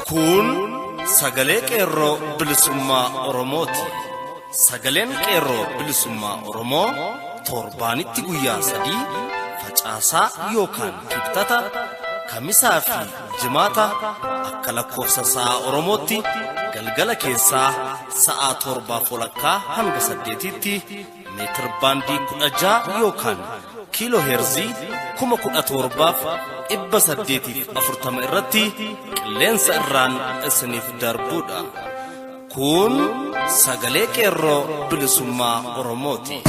Kun sagalee qeerroo bilisummaa Oromooti. Sagaleen qeerroo bilisummaa Oromoo torbaanitti guyyaa sadii facaasaa yookaan kibxata kamisaa fi Jimaata akka lakkoofsa sa'a Oromootti galgala keessaa sa'a torbaaf walakkaa hanga saddeetiitti meetir baandii kudha ja'a yookaan kiiloo heerzii kuma kudha torbaaf dhibba saddeetiif afurtama irratti qilleensa irraan isiniif darbuudha. Kun sagalee qeerroo bilisummaa Oromooti.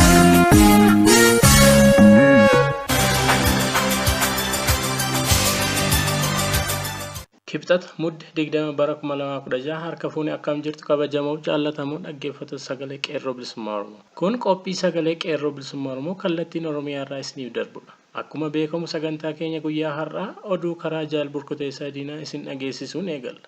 Kibxata mudde 20 bara 2016 harka fuune akkam jirtu kabajamoo jaallatamoo dhaggeeffatu sagalee qeerroo bilisummaa Oromoo. Kun qophii sagalee qeerroo bilisummaa Oromoo kallattiin Oromiyaa irraa isiniif darbudha. Akkuma beekamu sagantaa keenya guyyaa har'aa oduu karaa jaal burkuteessaa diinaa isin dhageessisuun eegalla.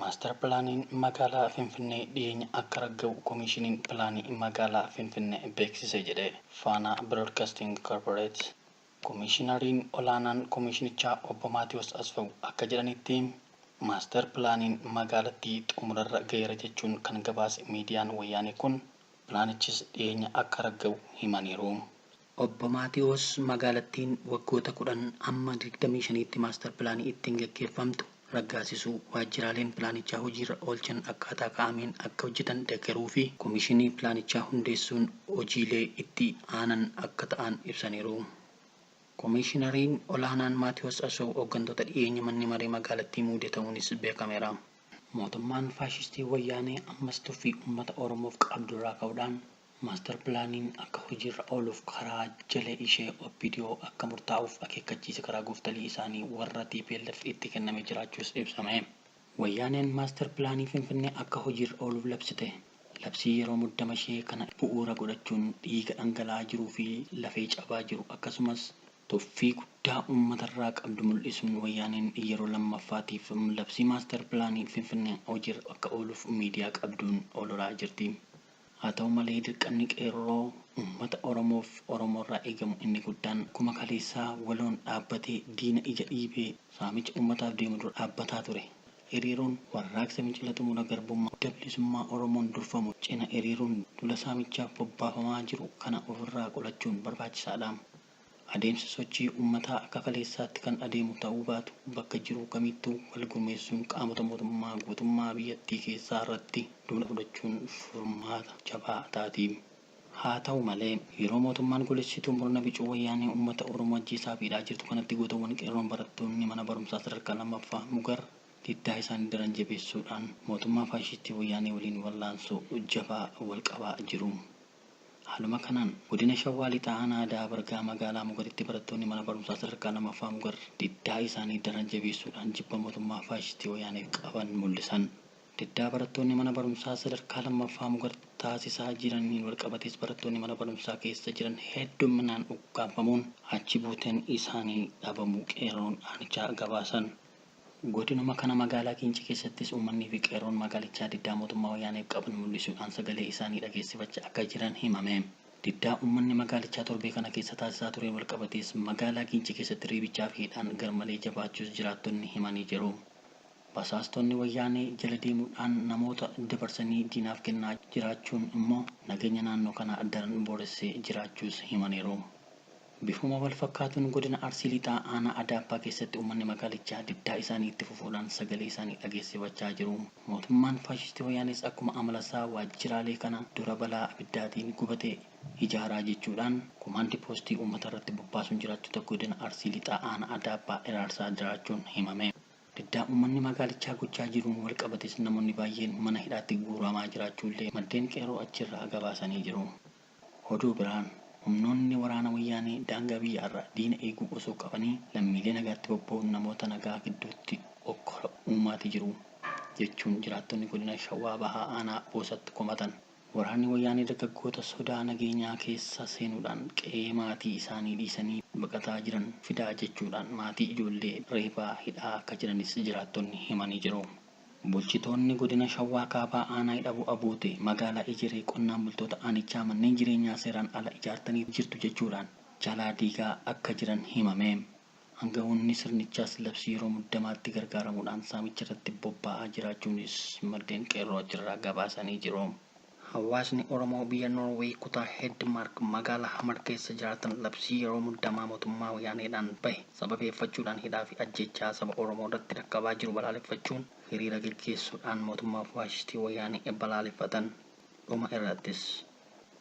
Maastar Pilaaniin Magaalaa Finfinnee dhiyeenya akka ragga'u Komiishiniin Pilaanii Magaalaa Finfinnee beeksise jedhe Faanaa Biroodkasting Korporeet. Komiishinariin olaanaan komiishinichaa Obbo Maatiwoos Asfawu akka jedhanitti, Maastar Pilaaniin magaalattii xumurarra ga'eera jechuun kan gabaase miidiyaan Wayyaanee kun, pilaanichis dhiyeenya akka ragga'u himaniiru. Obbo Maatiwoos magaalattiin waggoota 10 amma 25tti maastar pilaanii ittiin gaggeeffamtu raggaasisuu, waajjiraaleen pilaanichaa hojiirra oolchan akkaataa kaa'ameen akka hojjetan deggeruu fi komishinii pilaanichaa hundeessuun hojiilee itti aanan akka ta'an ibsaniiru. Komishinariin olaanaan Maatiwoos Asoow hooggantoota dhiyeenya manni maree magaalattii muude ta'uunis beekameera. Mootummaan faashistii Wayyaanee ammas tuffii uummata Oromoof qabdurraa ka'uudhaan Master Plaaniin akka hojiirra ooluuf karaa jala ishee opdo akka murtaa'uuf akeekkachiisi karaa gooftolii isaanii warra tplf itti kenname jiraachuus ibsame. Wayyaaneen Master Plaanii Finfinnee akka hojiirra ooluuf labsite labsii yeroo muddama ishee kana bu'uura godhachuun dhiiga dhangala'aa jiruu fi lafee cabaa jiru akkasumas tuffii guddaa uummatarraa qabdu mul'isuun Wayyaaneen yeroo lammaffaatiif labsii Master Plaanii Finfinnee hojiirra akka ooluuf miidiyaa qabduun ololaa jirti. Haa ta'u malee dirqamni Qeerroo ummata Oromoof Oromoorraa eegamu inni guddaan akkuma kaleessaa waloon dhaabbatee diina ija dhiibee saamicha ummataaf deemu dura dhaabbataa ture. Hiriiruun Warraaqsa Fincila Xumura Garbummaa Adda Bilisummaa Oromoon durfamu cina hiriiruun duula saamichaaf bobbaafamaa jiru kana ofirraa qolachuun barbaachisaadha. Adeemsi sochii ummataa akka kaleessaatti kan adeemu ta'uu baatu bakka jiru kamittuu wal gurmeessuun qaamota mootummaa guutummaa biyyattii keessaa irratti duula fudhachuun furmaata jabaa taati. Haa ta'u malee, yeroo mootummaan goolessituu murna bicuu wayyaanee ummata Oromoo ajjeesaa fi hidhaa jirtu kanatti gootowwan Qeerroon barattoonni mana barumsaa sadarkaa 2ffaa Mugar diddaa isaanii daran jabeessuudhaan mootummaa faashistii wayyaanee waliin wallaansoo jabaa wal qabaa jiru. Haaluma kanaan Godina Shawaa Lixaa Aanaa Ada'aa Bargaa Magaalaa Mugaritti barattoonni mana barumsaa sadarkaa 2ffaa Mugar diddaa isaanii daran jabeessuudhaan jibba mootummaa faashistii Wayyaaneef qaban mul'isan. Diddaa barattoonni mana barumsaa sadarkaa 2ffaa Mugar taasisaa jiraniin walqabatees barattoonni mana barumsaa keessa jiran heddumminaan ukkaamfamuun achi buuteen isaanii dhabamuu qeerroon aanichaa gabaasan. Godinuma kana magaalaa Giincii keessattis uummanni fi qeerroon magaalichaa diddaa mootummaa Wayyaaneef qaban mul'isuudhaan sagalee isaanii dhageessifachaa akka jiran himame. Diddaa uummanni magaalichaa torbee kana keessa taasisaa tureen walqabatees magaalaa Giincii keessatti reebichaa fi hidhaan garmalee jabaachuus jiraattonni himanii jiru. Basaastonni Wayyaanee jala deemuudhaan namoota dabarsanii diinaaf kennaa jiraachuun immoo nageenya naannoo kanaa daran booressee jiraachuus himaniiru. Bifuma walfakkaatuun Godina Arsii Lixaa Aanaa Adaabbaa keessatti uummanni magaalichaa diddaa isaanii itti fufuudhaan sagalee isaanii dhageessifachaa jiru. Mootummaan faashistii Wayyaanees akkuma amalasaa waajjiraalee kana dura balaa abiddaatiin gubate ijaaraa jechuudhaan komaandi poostii uummatarratti bobbaasuun jiraattota Godina Arsii Lixaa Aanaa Adaabbaa hiraarsaa jiraachuun himame. Diddaa uummanni magaalichaa gochaa jiruun walqabatees namoonni baay'een mana hidhaatti guuramaa jiraachuullee maddeen Qeerroo achirraa gabaasanii jiru. Oduu biraan Humnoonni waraana Wayyaanee daangaa biyya arraa diina eeguu osoo qabanii lammiilee nagaatti bobba'uun namoota nagaa gidduutti hokkora uumaati jiru jechuun jiraattonni godina Shawaa Bahaa aanaa Boosatti komatan. Waraanni Wayyaanee dargaggoota sodaa nageenyaa keessa seenuudhaan qe'ee maatii isaanii dhiisanii baqataa jiran fidaa jechuudhaan maatii ijoollee reebaa hidhaa akka jiranis jiraattonni himanii jiru. Bulchitoonni Godina Shawaa Kaabaa Aanaa Hidhabuu Abootee Magaalaa Ejeree Qonnaan Bultoota Aanichaa Manneen Jireenyaa Seeraan Ala Ijaartaniif Jirtu Jechuudhaan Jalaa Diigaa Akka Jiran Himame. Angawoonni Sirnichaas Labsii Yeroo Muddamaatti Gargaaramuudhaan Saamicharratti Bobbaa'aa Jiraachuunis Maddeen Qeerroo Achirraa Gabaasanii Jiru. Hawaasni Oromoo biyya Norway kutaa Hedmark magaalaa Hamar keessa jiraatan labsii yeroo muddamaa mootummaa Wayyaaneedhaan bahe sababeeffachuudhaan hidhaa fi ajjeechaa saba Oromoo irratti dhaqqabaa jiru balaaleffachuun hiriira geggeessuudhaan mootummaa faashistii Wayyaanee balaaleffatan. Dhuma irrattis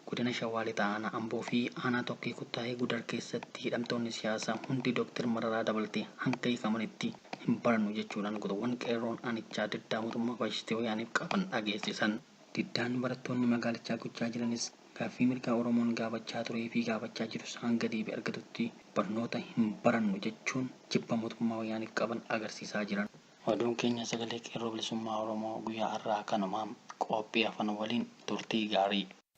Godina Shawaa Lixaa Aanaa Amboo fi Aanaa Tokkee Kuttaayee Gudar keessatti hidhamtoonni siyaasaa hundi Dr. Mararaa dabaltee hanga hiikamanitti hin barannu jechuudhaan gotoowwan Qeerroon aanichaa diddaa mootummaa faashistii Wayyaaneef qaban dhageessisan. Diddaan barattoonni magaalichaa gochaa jiranis gaaffii mirgaa Oromoon gaafachaa tureefi gaafachaa jirus hanga deebii argatutti barnoota hin barannu jechuun jibba mootummaa Wayyaaneef qaban agarsiisaa jiran. Oduun keenya Sagalee Qeerroo Bilisummaa Oromoo guyyaa har'aa kanuma. Qophii hafan waliin turtii gaarii!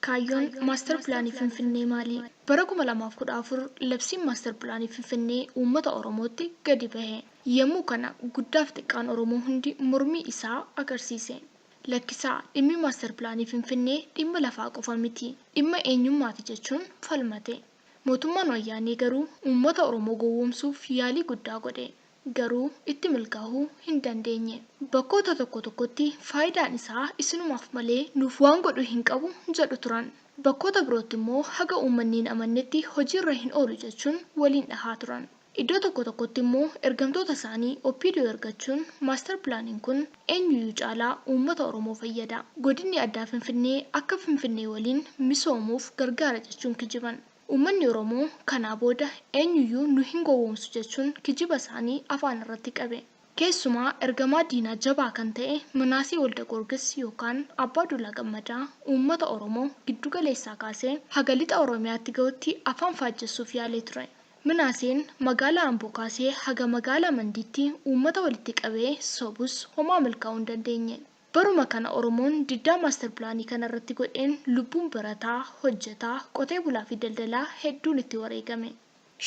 Kaayyoon Maastar Pilaanii Finfinnee maali? Bara 2014 labsiin Maastar Pilaanii Finfinnee uummata Oromootti gadi bahe. Yemmuu kana guddaaf xiqqaan Oromoo hundi mormii isaa agarsiise. Lakkisaa, dhimmi Maastar Pilaanii Finfinnee dhimma lafaa qofa miti, dhimma eenyummaati jechuun falmate. Mootummaan Wayyaanee garuu uummata Oromoo gowwoomsuuf yaalii guddaa godhe. garuu itti milkaahuu hin dandeenye. Bakkoota tokko tokkotti faayidaan isaa isinumaaf malee nuuf waan godhu hin qabu jedhu turan. Bakkoota birootti immoo haga uummanni hin amannetti hojiirra hin oolu jechuun waliin dhahaa turan. Iddoo tokko tokkotti immoo ergamtoota isaanii Opdo ergachuun Master Plaaniin kun eenyuyyuu caalaa uummata Oromoo fayyada, Godinni Addaa Finfinnee akka Finfinnee waliin misoomuuf gargaara jechuun kijiban. Uummanni Oromoo kanaa booda eenyuyyuu nu hin gowwoomsu jechuun kijiba isaanii afaan irratti qabe. Keessumaa ergamaa diinaa jabaa kan ta'e Minaasee Waldagoorgis yookaan Abbaa Duulaa Gammadaa uummata Oromoo giddu galeessaa kaasee haga lixa Oromiyaatti gahutti afaan faajjessuuf yaalee ture. Minaaseen magaalaa Amboo kaasee haga magaalaa Mandiitti uummata walitti qabee sobus homaa milkaa'uu hin dandeenye. Baruma kana Oromoon diddaa Master Pilaanii kana irratti godheen lubbuun barataa, hojjetaa, qotee bulaa fi daldalaa hedduun itti wareegame.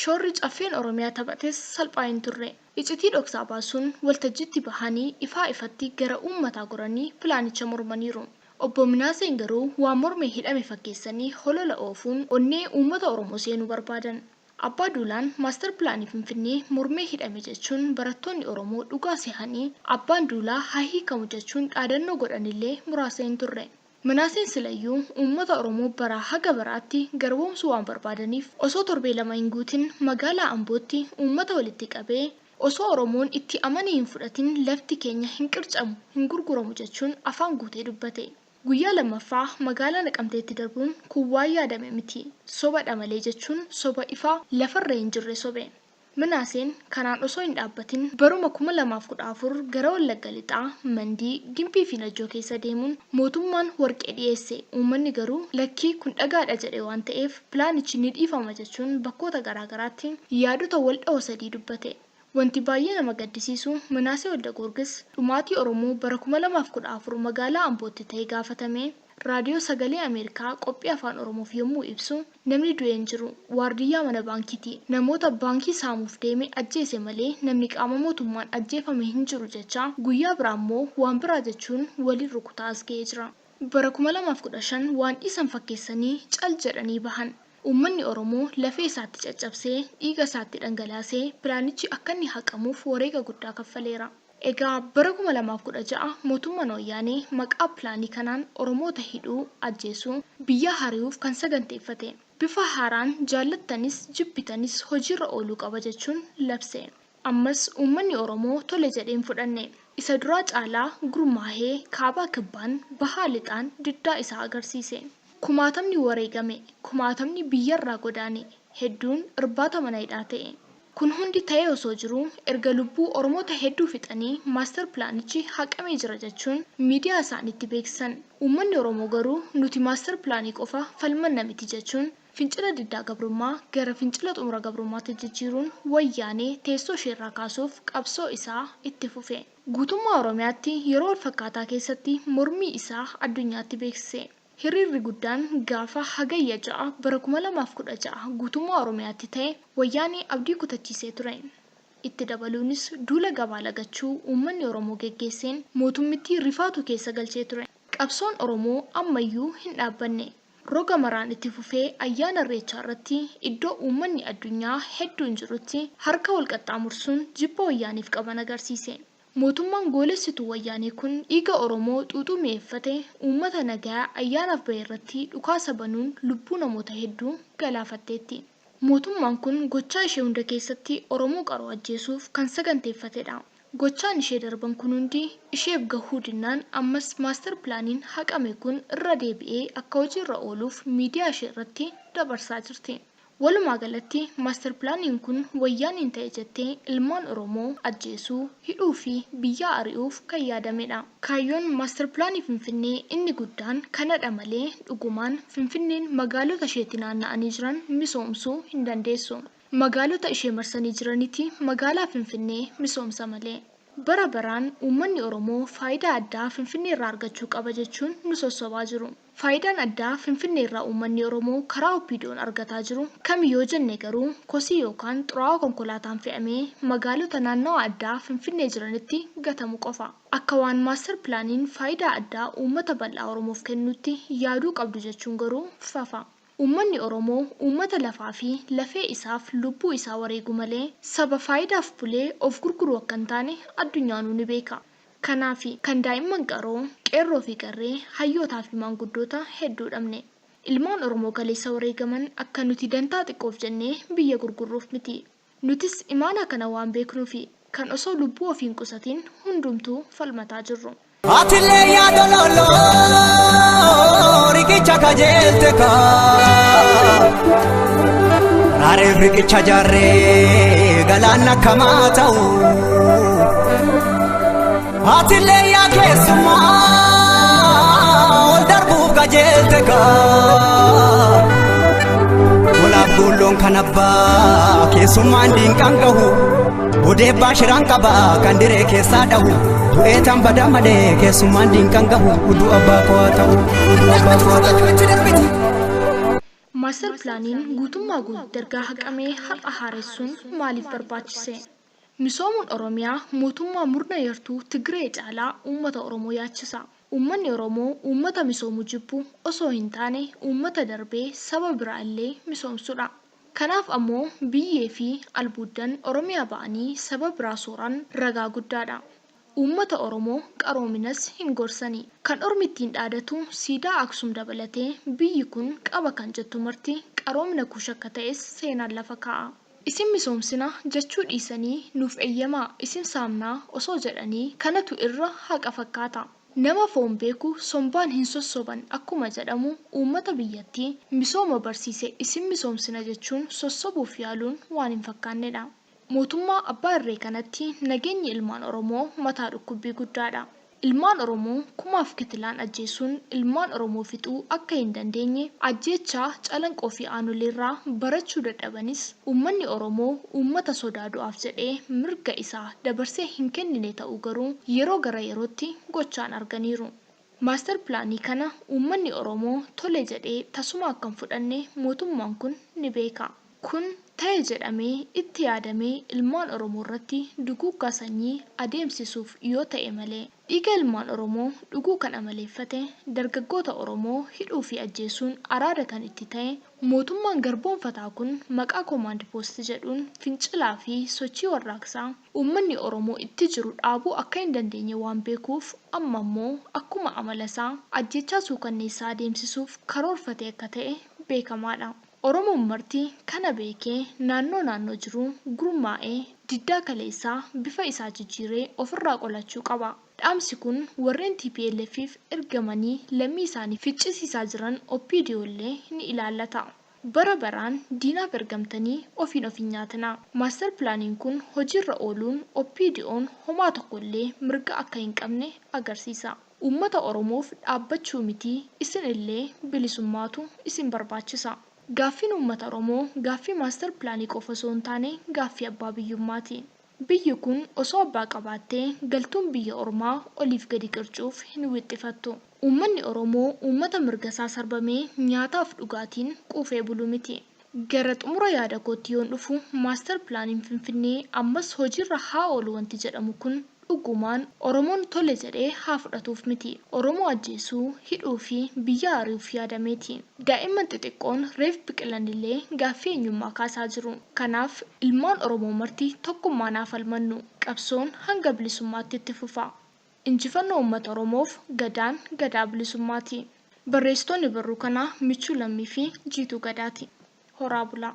Shoorri Caffeen Oromiyaa taphates salphaa hin turre. Icitii dhoksaa baasuun waltajjiitti bahanii ifaa ifatti gara uummataa goranii pilaanicha mormaniiru. Obbo Minaaseen garuu waan mormee hidhame fakkeessanii holola oofuun onnee uummata Oromoo seenuu barbaadan. Abbaa Duulaan Master Pilaanii Finfinnee mormee hidhame jechuun barattoonni Oromoo dhugaa sehanii Abbaan Duulaa haa hiikamu jechuun dhaadannoo godhanillee muraasa hin turre. Minaaseen silayyuu uummata Oromoo baraa haga baraatti garboomsuu waan barbaadaniif osoo torbee lama hin guutin magaalaa Ambootti uummata walitti qabee osoo Oromoon itti amanee hin fudhatin lafti keenya hin qircamu, hin gurguramu jechuun afaan guutee dubbate. Guyyaa lammaffaa magaalaa Naqamteetti darbuun kun waan yaadame miti, soba dha malee jechuun soba ifa lafa irra hin jirre sobe. Minaaseen kanaan osoo hin dhaabbatin baruma 2014 gara Wallagga Lixaa, Mandii, Gimbii fi Najjoo keessa deemuun mootummaan warqee dhiyeesse, uummanni garuu lakkii kun dhagaa dha jedhe waan ta'eef pilaanichi ni dhiifama jechuun bakkoota garaa garaatti yaadota wal dhawo sadii dubbate. Wanti baay'ee nama gaddisiisu, Minaasee Waldagoorgis dhumaatii Oromoo bara 2014 magaalaa Ambootti ta'e gaafatamee Raadiyoo Sagalee Ameerikaa qophii Afaan Oromoof yommuu ibsu, namni du'e hin jiru, waardiyyaa mana baankiiti, namoota baankii saamuuf deeme ajjeese malee namni qaama mootummaan ajjeefame hin jiru jechaa guyyaa biraa immoo waan biraa jechuun waliin rukutaa as ga'ee jira. Bara 2015 waan dhiisan fakkeessanii cal jedhanii bahan. Uummanni Oromoo lafee isaatti caccabsee, dhiiga isaatti dhangalaasee pilaanichi akkanni haqamuuf wareega guddaa kaffaleera. Egaa bara 2016 mootummaan Wayyaanee maqaa pilaanii kanaan Oromoota hidhuu, ajjeesuu, biyyaa hari'uuf kan saganteeffate, bifa haaraan jaallattanis jibbitanis hojiirra ooluu qaba jechuun labse. Ammas uummanni Oromoo tole jedhee hin fudhanne. Isa duraa caalaa gurmaahee kaabaa kibbaan, bahaa lixaan diddaa isaa agarsiise. Kumaatamni wareegame, kumaatamni biyyarraa godaane, hedduun irbaata mana hidhaa ta'e. Kun hundi ta'ee osoo jiruu erga lubbuu Oromoota hedduu fixanii master pilaanichi haqamee jira jechuun miidiyaa isaaniitti beeksisan. Uummanni Oromoo garuu nuti master pilaanii qofa falmanna miti jechuun Fincila diddaa gabrummaa gara fincila xumura gabrummaatti jijjiiruun Wayyaanee teessoo ishee irraa kaasuuf qabsoo isaa itti fufe. Guutummaa Oromiyaatti yeroo wal fakkaataa keessatti mormii isaa addunyaatti beeksise. Hiriirri guddaan gaafa Hagayya 6 bara 2016 guutummaa Oromiyaatti ta'e Wayyaanee abdii kutachiisee ture. Itti dabaluunis duula gabaa lagachuu uummanni Oromoo geggeesseen mootummittii rifaatuu keessa galchee ture. Qabsoon Oromoo ammayyuu hin dhaabbanne. Roga maraan itti fufee ayyaana Irreechaa irratti iddoo uummanni addunyaa hedduun jirutti harka wal qaxxaamursuun jibba Wayyaaneef qaban agarsiise. Mootummaan goolessituu Wayyaanee kun dhiiga Oromoo xuuxuu mi'eeffate uummata nagayaa ayyaanaaf bahe irratti dhukaasa banuun lubbuu namoota hedduu galaafatteetti. Mootummaan kun gochaa ishee hunda keessatti Oromoo qaroo ajjeesuuf kan saganteeffatedha. Gochaan ishee darban kun hundi isheef gahuu dinnaan ammas Master Plaaniin haqame kun irra deebi'ee akka hojiirra ooluuf miidiyaa ishee irratti dabarsaa jirti. Walumaa galatti Master Plaaniin kun Wayyaaneen ta'e jettee ilmaan Oromoo ajjeesuu, hidhuu fi biyyaa ari'uuf kan yaadamedha. Kaayyoon Master Plaanii Finfinnee inni guddaan kanadha malee dhugumaan Finfinneen magaalota isheetti naanna'anii jiran misoomsuu hin dandeessu. Magaalota ishee marsanii jiraniti magaalaa Finfinnee misoomsa malee. Bara baraan uummanni Oromoo faayidaa addaa Finfinneerraa argachuu qaba jechuun nu sossobaa jiru. Faayidaan addaa Finfinneerraa uummanni Oromoo karaa OPDOn argataa jiru kami yoo jenne garuu kosii yookaan xuraawaa konkolaataan fe'amee magaalota naannawa addaa Finfinnee jiranitti gatamu qofa. Akka waan Master Plaaniin faayidaa addaa uummata bal'aa Oromoof kennuutti yaaduu qabdu jechuun goruu fafa. Uummanni Oromoo uummata lafaa fi lafee isaaf lubbuu isaa wareegu malee saba faayidaaf bulee of gurguru akka hin taane addunyaanuu ni beeka. Kanaafi kan daa'imman qaroo, qeerroo fi qarree, hayyootaa fi maanguddoota hedduu dhabne. Ilmaan Oromoo kaleessa wareegaman akka nuti dantaa xiqqoof jennee biyya gurgurruuf miti. Nutis imaanaa kana waan beeknuufi kan osoo lubbuu ofii hin qusatiin hundumtuu falmataa jirru. Atillee yaa dololloo riqicha kajeelte kaa Raareen riqicha jaarree galaan akkamaa ta'u Atillee yaa keessummaa ol darbuuf qajeelte kaa. Olaaf goolloon kan abbaa keessummaan diinqaan gahu. Odeebbaa shiraan qaba kan diree keessaa dhahu. Du'ee tan badaa malee keessummaan diinqaan gahu. Uduu abbaa koo haa ta'u. Uduu abbaa koo haa ta'u. Maastar pilaaniin guutummaa guutuu ergaa haqamee har'a haaressuun maaliif barbaachise? Misoomuun Oromiyaa mootummaa murna yartuu Tigiree caalaa uummata Oromoo yaachisa. Uummanni Oromoo uummata misoomu jibbu osoo hin taane uummata darbee saba biraa illee misoomsudha. Kanaaf ammoo biyyee fi albuuddan Oromiyaa ba'anii saba biraa sooran ragaa guddaadha. Uummata Oromoo qaroominas hin gorsani. Kan ormi ittiin dhaadatu siidaa Aksum dabalatee biyyi kun qaba kan jettu marti qaroomina kuush akka ta'es seenaan lafa kaa'a. Isin misoomsina jechuu dhiisanii nuuf eyyamaa isin saamnaa osoo jedhanii kanatu irra haqa fakkaata. Nama foon beeku sombaan hin sossoban akkuma jedhamu uummata biyyattii misooma barsiise isin misoomsina jechuun sossobuuf yaaluun waan hin fakkaannedha. Mootummaa abbaa irree kanatti nageenyi ilmaan Oromoo mataa dhukkubbii guddaadha. Ilmaan Oromoo kumaaf kitilaan ajjeessuun ilmaan Oromoo fixuu akka hin dandeenye ajjeechaa Calanqoo fi Aanoleerraa barachuu dadhabanis uummanni Oromoo uummata sodaa du'aaf jedhee mirga isaa dabarsee hin kennine ta'uu garuu yeroo gara yerootti gochaan arganiiru. Master Pilaanii kana uummanni Oromoo tole jedhee tasuma akka hin fudhanne mootummaan kun ni beeka. Kun ta'e jedhamee itti yaadamee ilmaan Oromoorratti duguuggaa sanyii adeemsisuuf yoo ta'e malee, dhiiga ilmaan Oromoo dhuguu kan amaleeffate, dargaggoota Oromoo hidhuu fi ajjeesuun araada kan itti ta'e, mootummaan garboomfataa kun maqaa Komaand Poost jedhuun fincilaa fi sochii warraaqsaa uummanni Oromoo itti jiru dhaabuu akka hin dandeenye waan beekuuf amma ammoo akkuma amala isaa ajjeechaa suukanneessaa adeemsisuuf karoorfatee akka ta'e beekamaa dha. Oromoon marti kana beekee naannoo naannoo jiru gurmaa'ee diddaa kaleessaa bifa isaa jijjiiree ofirraa qolachuu qaba. Dhaamsi kun warreen TPLF'f ergamanii lammii isaanii ficcisiisaa jiran OPDO illee ni ilaallata. Bara baraan diinaaf ergamtanii ofiin of hin nyaatinaa. Master Plaaniin kun hojiirra ooluun OPDOn homaa tokko illee mirga akka hin qabne agarsiisa. Uummata Oromoof dhaabbachuu miti isin illee bilisummaatu isin barbaachisa. Gaaffiin uummata Oromoo gaaffii master plan qofa osoo hin taane gaaffii abbaa biyyummaati. Biyyi kun osoo abbaa qabaattee galtuun biyya ormaa oliif gadi qircuuf hin wixxifattu. Uummanni Oromoo uummata mirga isaa sarbamee nyaataaf dhugaatiin quufee bulu miti. Gara xumura yaada kootti yoon dhufu, Master Plaaniin Finfinnee ammas hojiirra haa oolu wanti jedhamu kun dhugumaan Oromoon tole jedhee haa fudhatuuf miti. Oromoo ajjeesuu, hidhuu fi biyyaa ari'uuf yaadamee ti. Daa'imman xixiqqoon reef biqilan illee gaaffii eenyummaa kaasaa jiru. Kanaaf, ilmaan Oromoo marti tokkummaan haa falmannu. Qabsoon hanga bilisummaatti itti fufa. Injifannoo Ummata Oromoof Gadaan Gadaa Bilisummaati! Barreessitoonni barruu kanaa Michuu Lammii fi Jiituu Gadaati. Horaa bulaa!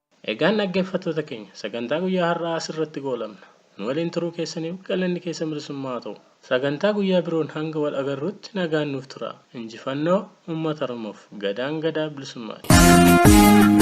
Egaan dhaggeeffattoota keenya, sagantaa guyyaa har'aa as irratti goolabna. Nu waliin turuu keessaniif galanni keessan bilisummaa haa ta'u. Sagantaa guyyaa biroon hanga wal agarruutti nagaan nuuf turaa. Injifannoo Uummata Oromoof! Gadaan Gadaa Bilisummaati!